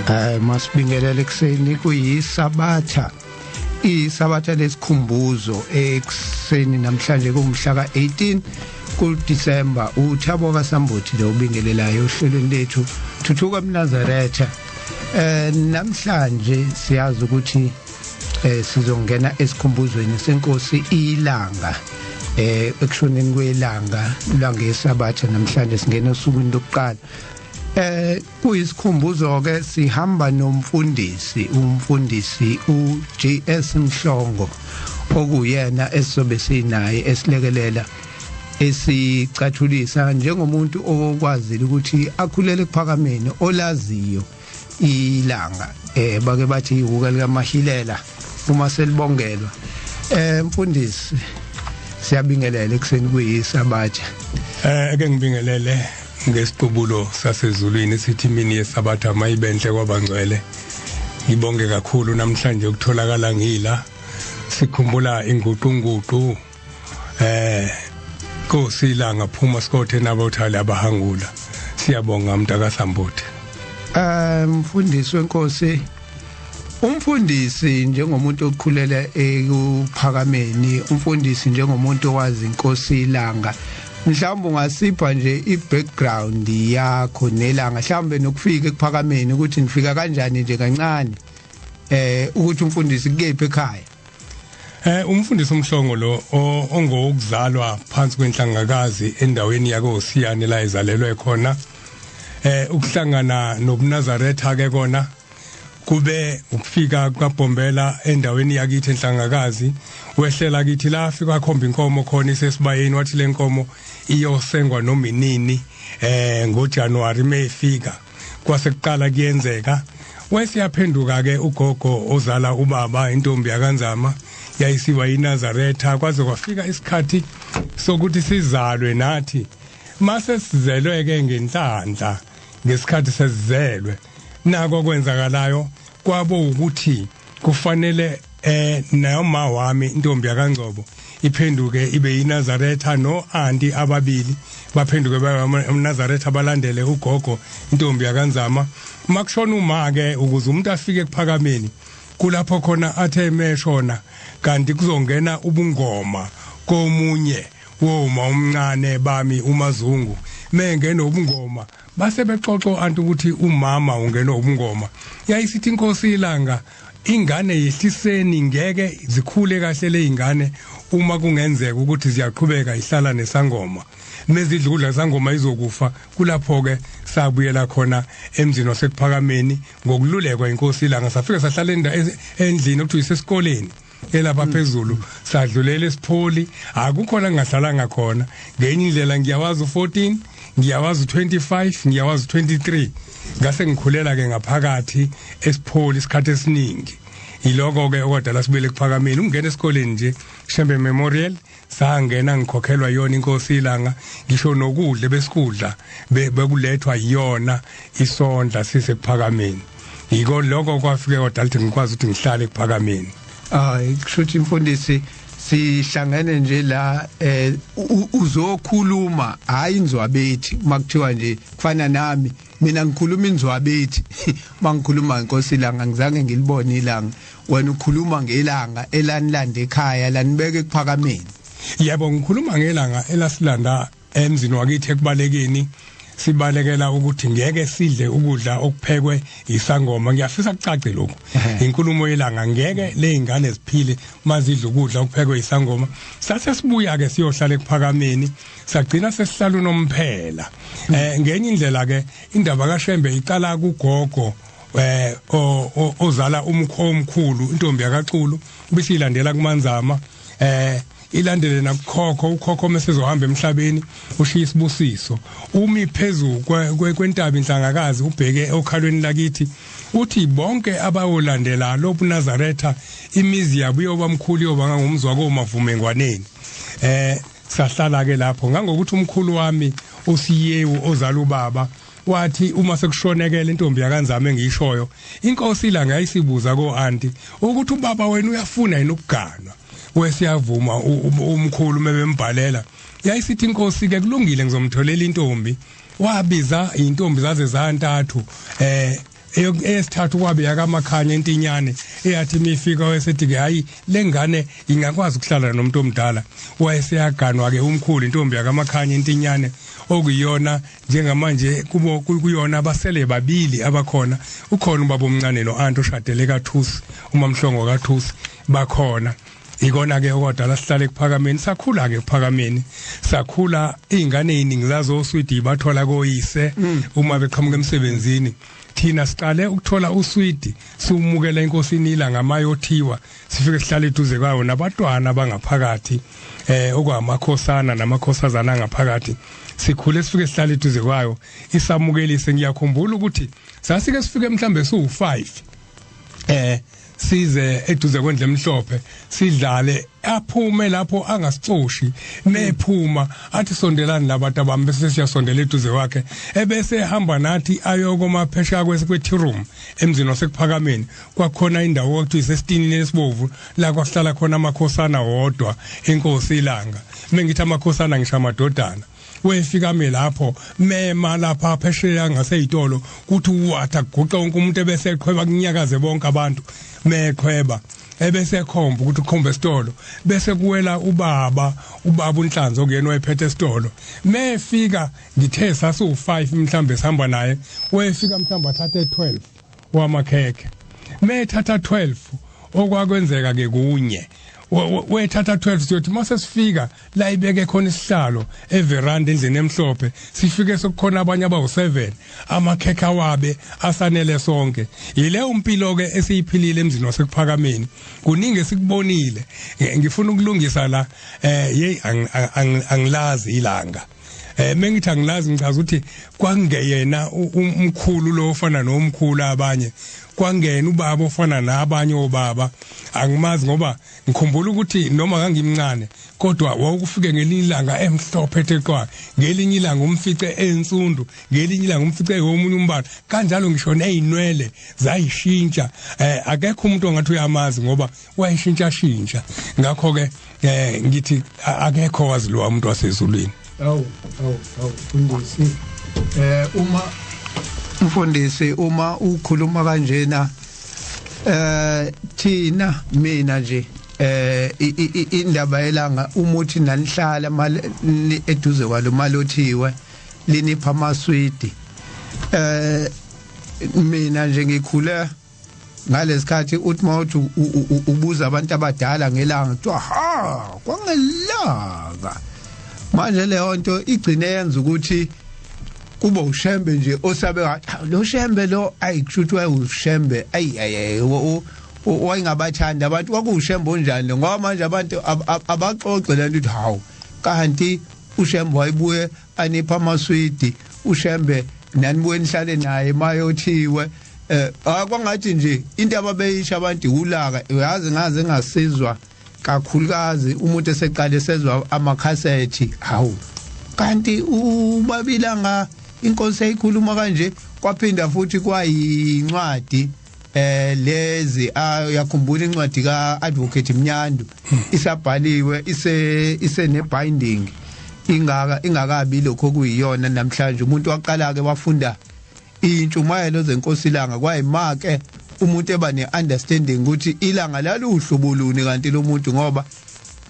Eh masibingelele kuseni kuyisabatha isabatha lesikhumbuzo ekuseni namhlanje kumhla ka-18 kuDisemba uThabo kaSambuthi lo ubingelelayo ohlelweni lethu thuthuka mnazaretha Eh namhlanje siyazi ukuthi eh sizongena esikhumbuzweni senkosi ilanga eh ekushoneni kwelanga lwangesabatha namhlanje singena osukwini lokuqala eh kuyisikhumbuzo ke sihamba nomfundisi umfundisi uJS Mhlongo okuyena esizobe sinaye esilekelela esicathulisa njengomuntu okwazile ukuthi akhulele ekuphakameni olaziyo ilanga eh bake bathi iwuka likamahilela uma selibongelwa eh mfundisi siyabingelela ekuseni kuyisabatha eh ake ngibingelele ngesiqubulo sasezulwini sithi imini yesabatha mayibenhle kwabangcwele ngibonge kakhulu namhlanje ukutholakala ngila sikhumbula inguqunguqu eh Nkosi ilanga phuma sikothe nabo uthali abahangula siyabonga mntaka Samboti eh mfundisi wenkosi umfundisi njengomuntu okhulele ekuphakameni umfundisi njengomuntu owazi inkosi ilanga mhlawumbe ungasipha nje i-background yakho nelanga mhlawumbe nokufika ekuphakameni ukuthi nifika kanjani nje kancane eh ukuthi umfundisi kuyephi ekhaya Eh umfundisi umhlongo lo ongowokuzalwa phansi kwenhlangakazi endaweni yako Siyane la izalelwe khona eh ukuhlangana nobunazaretha ke kona kube ukufika kukaBhombela endaweni yakithi enhlangakazi wehlela kithi la afika akhomba inkomo khona isesibayeni wathi lenkomo iyosengwa nominini eh ngoJanuary mayifika kwase kuqala kuyenzeka wesiyaphenduka ke ugogo ozala ubaba intombi yakanzama yayisiwa yinazaretha kwaze kwafika isikhathi sokuthi sizalwe nathi mase sizelwe ke ngenhlanhla ngesikhathi sesizelwe nako kwenzakalayo kwabo ukuthi kufanele eh nayo ma wami intombi yakangcobo iphenduke ibe yinazaretha no anti ababili baphenduke bamnazaretha balandele ugogo intombi yakanzama makushona uma ke ukuze umuntu afike kuphakameni kulapho khona athe meshona kanti kuzongena ubungoma komunye woma umncane bami umazungu mengena ubungoma base bexoxa u-anti ukuthi umama ungenwa ubungoma yayisithi inkosi ilanga ingane yehliseni ngeke zikhule kahle lezingane uma kungenzeka ukuthi ziyaqhubeka ihlala nesangoma mezidla ukudla sangoma izokufa kulapho ke sabuyela khona emzini wasekuphakameni ngokululekwa inkosi ilanga safike sahlala endlini okuthiwa isesikoleni elapha mm. phezulu sadlulela esipholi akukhona ngingahlalanga khona ngenye indlela ngiyawazi u14 ngiyawazi u25 ngiyawazi u23 ngase ngikhulela ke ngaphakathi esipholi isikhathi esiningi iloko ke okwadala sibele kuphakameni ungena esikoleni nje Shembe Memorial sangena ngikhokhelwa yona inkosi ilanga ngisho nokudla besikudla bekulethwa yona isondla sise kuphakameni yiko lokho kwafike kodwa lithi ngikwazi ukuthi ngihlale kuphakameni hayi kushuthi imfundisi sihlangene nje la eh uzokhuluma hayi inzwabethi makuthiwa nje kufana nami Mina ngikhuluma inzwabethi mangikhuluma nkosi ilanga ngizange ngilibone ilanga wena ukhuluma ngelanga elanilanda ekhaya lanibeke ekuphakameni yebo ngikhuluma ngelanga elasilanda emzini wakithi ekubalekeni sibalekela ukuthi ngeke sidle ukudla okuphekwe isangoma ngiyafisa kucace lokho inkulumo yelanga ngeke lezingane ziphile mazidla ukudla okuphekwe isangoma sase sibuya ke siyohlala ekuphakameni sagcina sesihlala unomphela eh ngenye indlela ke indaba kaShembe iqala kugogo eh ozala umkho omkhulu intombi yakaXulu bese ilandela kumanzama eh ilandele nakukhokho ukhokho mesezohamba emhlabeni ushiya isibusiso umi phezulu kwentaba inhlangakazi ubheke okhalweni lakithi uthi bonke abayolandela lobunazaretha imizi yabo iyobamkhulu yoba ngangomzwa komavume ngwaneni eh Sahlala-ke lapho ngangokuthi umkhulu wami uSiyewu ozala ubaba wathi uma sekushoneke le ntombi yakanzama engiyishoyo inkosi ilanga yayisibuza ko-anti ukuthi ubaba wena uyafuna yini ukuganwa wesiyavuma umkhulu uma bembhalela yayisithi inkosi-ke kulungile ngizomtholela intombi wabiza iy'ntombi zaze zantathu um eyesithathu kwabe yakamakhanya intinyane eyathi imifika wayesethi-ke hhayi le ngane ingakwazi ukuhlala nomuntu omdala wayeseyaganwa-ke umkhulu intombi yakamakhanya intinyane okuyiyona njengamanje kubo kuyona basele babili abakhona ukhona ubaba omncane no-anti oshadele kathusi umamhlongo kathusi bakhona ikona ke okwadala sihlale kuphakameni sakhula ke kuphakameni sakhula izingane eziningi zazo oswidi bathola koyise mm. uma beqhamuka emsebenzini thina siqale ukuthola uswidi siwumukela inkosi inila ngamayothiwa sifike sihlale eduze kwayo nabatwana bangaphakathi eh okwamakhosana namakhosazana ngaphakathi sikhule sifike sihlale eduze kwayo isamukelise ngiyakhumbula ukuthi sasike sifike mhlambe siwu5 eh size eduze kwendle emhlophe sidlale aphume lapho angasixoshi nephuma athi sondelani labantu abami bese siyasondela eduze kwakhe ebese ehamba nathi ayokoma phesha kwesikwethi room emzini wasekuphakameni kwakhona indawo okuthiwa isesitini esibovu la kwahlala khona amakhosana wodwa inkosi ilanga mengithi amakhosana ngisho amadodana Wefikame lapho mema lapha phesheya ngaseyitolo kuthi uwatha kuguqe wonke umuntu ebese eqhweba kunyakaze bonke abantu meqhweba ebese ekhomba ukuthi ukhomba esitolo bese kuwela ubaba ubaba unhlanzi okuyena wayephethe esitolo mefika ngithe sasiwu-5 mhlambe sihamba naye wefika mhlambe athathe 12 wamakhekhe methatha 12 okwakwenzeka ke kunye wethatha 12 siyothi mase sifika la ibeke khona isihlalo everanda endlini emhlophe sifike sokukhona abanye abawu7 amakhekha wabe asanele sonke yile umpilo ke esiyiphilile emzini wasekuphakameni kuningi esikubonile ngifuna ukulungisa la eh hey angilazi ilanga eh mengithi angilazi ngichaza ukuthi kwangeyena umkhulu lo ofana nomkhulu abanye kwangena ubaba ofana nabanye obaba angimazi ngoba ngikhumbula ukuthi noma ngangimncane kodwa wawukufike ngelinye ilanga emhlophe ethe qwa ngelinye ilanga umfice ensundu ngelinye ilanga umfice omunye umbala kanjalo ngisho nezinwele zayishintsha eh akekho umuntu ongathi uyamazi ngoba wayeshintshashintsha ngakho-ke um ngithi akekho wazi lowa muntu wasezulwini awu awu awu mfundisi um uma mfundisi uma ukhuluma kanjena eh thina mina nje eh indaba yelanga umuthi nanihlala mali eduze kwalo malothiwe linipha amaswidi eh mina nje ngikhule ngalesikhathi uthi mawuthi ubuza abantu abadala ngelanga kuthiwa ha kwangelanga manje leyo nto igcine yenza ukuthi kube ushembe nje osabe lo shembe lo ayi kushuthi wayewushembe ayi ayi wayengabathanda abantu kwakuwushembe onjani lo ngoba manje abantu abaxoxe le nto ukuthi hawu kanti ushembe wayebuye anipha amaswidi ushembe nanibuye nihlale naye mayothiwe eh ah, kwangathi nje into ababeyisha abantu ulaka uyazi ngaze ngasizwa kakhulukazi umuntu eseqale sezwa amakhasethi hawu kanti ubabilanga inkosi eyikhuluma kanje kwaphinda futhi kwayincwadi eh lezi yakhumbula incwadi ka advocate Mnyandu hmm. isabhaliwe ise ise ne binding ingaka ingakabi lokho kuyiyona namhlanje umuntu waqala ke wafunda intshumayelo zenkosi langa kwayimake umuntu eba ne understanding ukuthi ilanga laluhlobo luni kanti lo muntu ngoba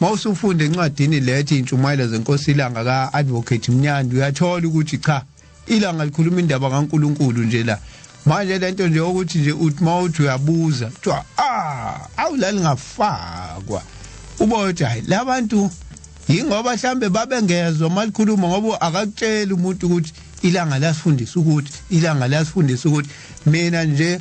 mawusufunde incwadini lethi intshumayelo zenkosi ilanga ka advocate Mnyandu uyathola ukuthi cha ilanga likhuluma indaba kaNkuluNkulu nje la manje lento nje ukuthi nje uthi mawuthi uyabuza kuthiwa ah awu lalingafakwa ubothi hayi labantu yingoba mhlambe babengezwa malikhuluma ngoba akakutsheli umuntu ukuthi ilanga lasifundisa ukuthi ilanga lasifundisa ukuthi mina nje